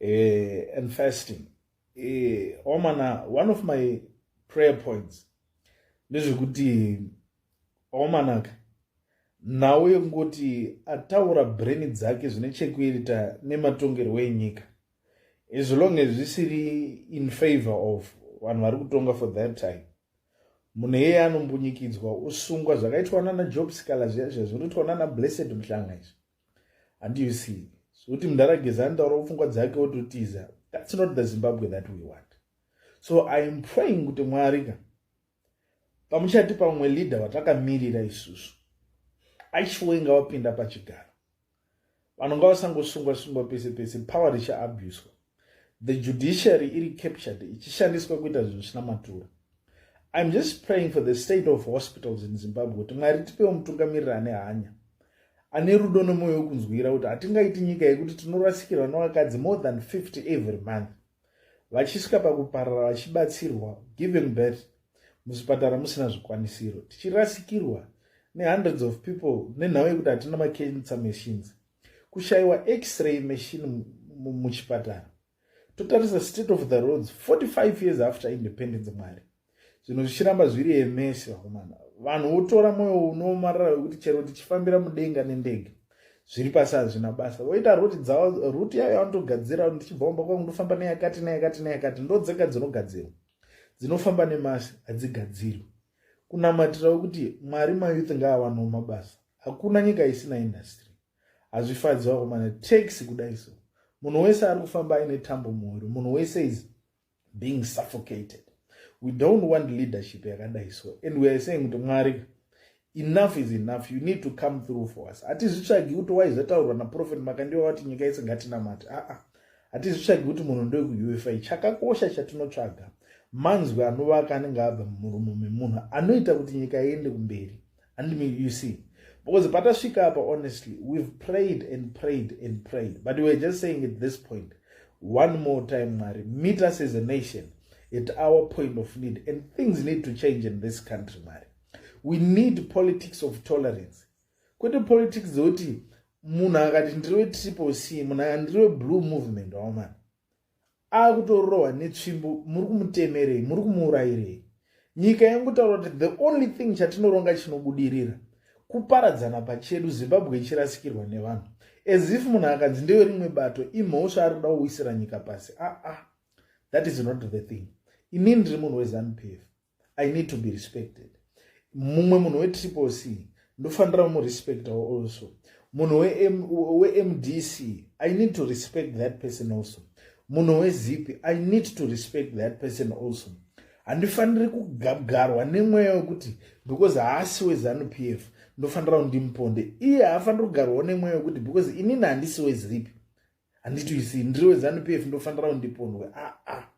eh, and fasting eh, omana one of my prayer points ndezvekuti omanaka nhau yekungoti ataura breni dzake zvine chekuita nematongerwo enyika as long as zvisiri in favor of vanhu vari kutonga for that time munhu iyeye anombunyikidzwa usungwa zvakaitwa nana job sikala zviya zviya zvinoitwa nana blessed muhlanga izvi and you see zvekuti so, mundara geza anotaura pfungwa dzake ototiza that's not the zimbabwe that we want so i am praying kuti mwari ka pamuchati pamwe leader watakamirira isusu aishuwa inga wapinda pachigaro vanhu ngavasangosungwa sungwa pese pese power richaabuswa the judiciary iri captured ichishandiswa kuita zvinhu zvisina matura iam just praying for the state of hospitals in zimbabwe kuti mwari tipewo mutungamiriri ane hanya ane rudo nomwoyo wekunzwira kuti hatingaiti nyika yekuti tinorasikirwa nevakadzi more than 50 every month vachisvika pakuparara vachibatsirwa giving birth muzvipatara musina zvikwanisiro tichirasikirwa nehundreds of people nenhau yekuti hatina macancer machines kushaiwa x-ray machine muchipatara totarisa state of the roads 45 years after independence mwari zvinhu zvichiramba zviri emesi vakomana vanhu votora mwoyo unoomarara wekuti chero tichifambira mudenga nendege zviri pasi hazvina basa voita ruti dzavo ruti yayo yavanotogadzira ndichibva kumba kwangu ndofamba neyakati neyakati neyakati ndodzega dzinogadzirwa dzinofamba nemasi hadzigadzirwi kunamatirawo kuti mwari mayouth ngaawanawo mabasa hakuna nyika isina industry hazvifadzi vakomana taxi kudai so munhu wese ari kufamba aine tambo muhoro munhu wese is being suffocated we don't want leadership yakadai so and weare saying kuti mwari enough is enough you need to come through for us hatizvitsvagi kuti waizvataurwa naprofet makandiwa vati nyika yese ngatinamati aa ah, ah. hatizvitsvagi kuti munhu ndoe kuufi chakakosha chatinotsvaga manzwi anovaka anenge abva mumuromo memunhu anoita kuti nyika iende kumberi andimi you see because patasvika apa honestly we've prayed and prayed and prayed but weare just saying at this point one more time mwari meet us as a nation at our point of need and things need to change in this country mwari we need politics of tolerance kwete politics dzekuti munhu akati ndiri wetriple c munhu akati ndiri weblue movement waomana akutorohwa netsvimbo muri kumutemerei muri kumuurayirei nyika yangotaura kuti the only thing chatinoronga chinobudirira kuparadzana pachedu zimbabwe ichirasikirwa nevanhu as if munhu akanzi ndeyo rimwe bato imhosva ari kuda kuwisira nyika pasi aa ah, ah. that is not the thing inini ndiri munhu wezanupf i need to be respected mumwe munhu wetriple c ndofanira kumurespectawo also munhu wemdc i need to respect that person also munhu wezip i need to respect that person also handifaniri kugagarwa nemweya wekuti because haasi wezanup f ndofanira kundimuponde iye haafaniri kugarwawo nemweya wekuti because inini handisi wezip handiti usi ndiri wezanup f ndofanira kundipondwe aa ah, ah.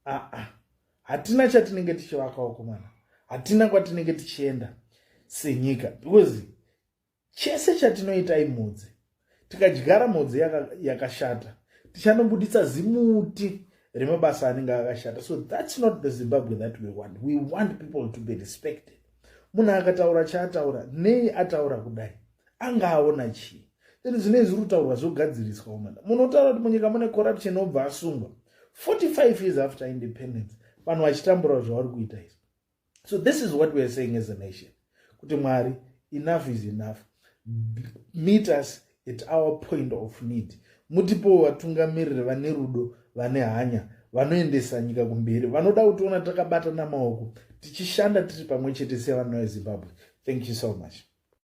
ah, ah. hatina chatinenge tichivakawo komana hatina kwatinenge tichienda senyika because chese chatinoita imhodzi tikadyara mhodzi yakashata yaka tichanobuditsa zimuti remabasa anenge akashata so thats not the zimbabwe that we want we want people to be respected munhu akataura chaataura nei ataura kudai anga aona chii then zvinei zviri kutaurwa zvogadziriswa umana munotaura kuti munyika mune corruption obva asungwa 45 years after independence vanhu vachitambura zvavari kuita izvi so this is what weare saying as a nation kuti mwari enough is enough meet us at our point of need mutipowo vatungamiriri vane rudo vane hanya vanoendesa nyika kumberi vanoda kutiona takabatana maoko tichishanda tiri pamwe chete sevana vezimbabwe thank you so much